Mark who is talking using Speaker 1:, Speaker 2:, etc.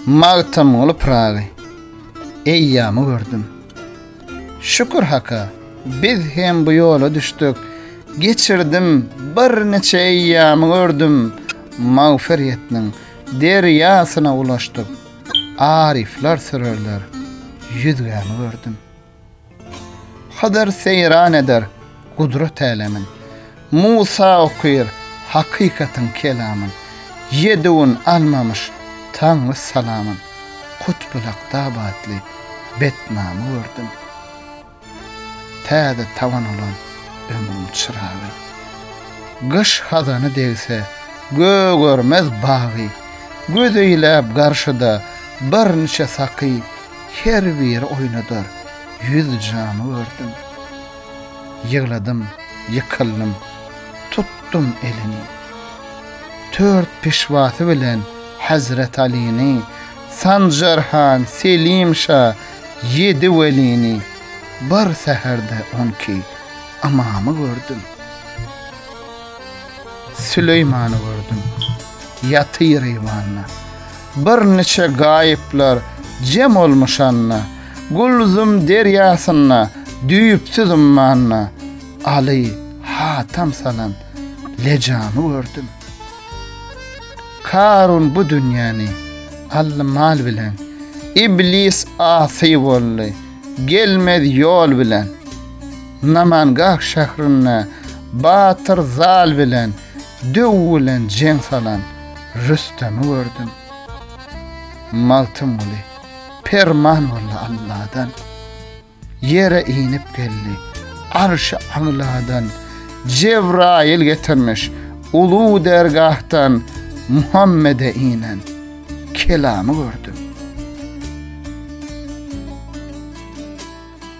Speaker 1: Magtymguly Pyragy eýýamy gördüm. Şükür Haka, biz hem bu ýola düşdük. Geçirdim, birniçe eýýamy gördüm. Magfyryýetniň derýasyna ulaşdyk. Aryflar sürerler ýüzgämi gördüm. Hydyr seýran eder gudrat älemin, Musa okyr hakykatyň kelamyn, Ýedi gün almamyş Taňry salamyn, Kutbulakda batly betnamy gördüm. Täze tabyn bolan ömrüň çyragy, Gyş hazany degse gögermez bagy, Göz eýläp garşyda birniçe saky, Her biri oýnadar ýüz jamy gördüm. Ýygladym, ýykyldym, tutdum elini. Tört pişwasy bilen Hezret Alyny, Sanjar han, Selim şa, ýedi welini, bir säherde on iki ymamy gördüm. Süleýmany gördüm. Ýatyr eýwanda. Birniçe gaýyplar jem olmuşanda, Gulzum derýasynda düýpsüz ummanda, Aly hatam salan Lejamy gördüm. Karun bu dünýäni aldy mal bilen, Iblis asy boldy, gelmez ýol bilen. Namangah şährinde batyr Zal bilen döw bilen jeň salan Rüstemi gördüm. Magtymguly, Perman boldy Alladan. Ýere inip geldi, Arşy Agladan. Jebraýyl getirmiş, uly dergahdan Muhammede inen kelamy gördüm.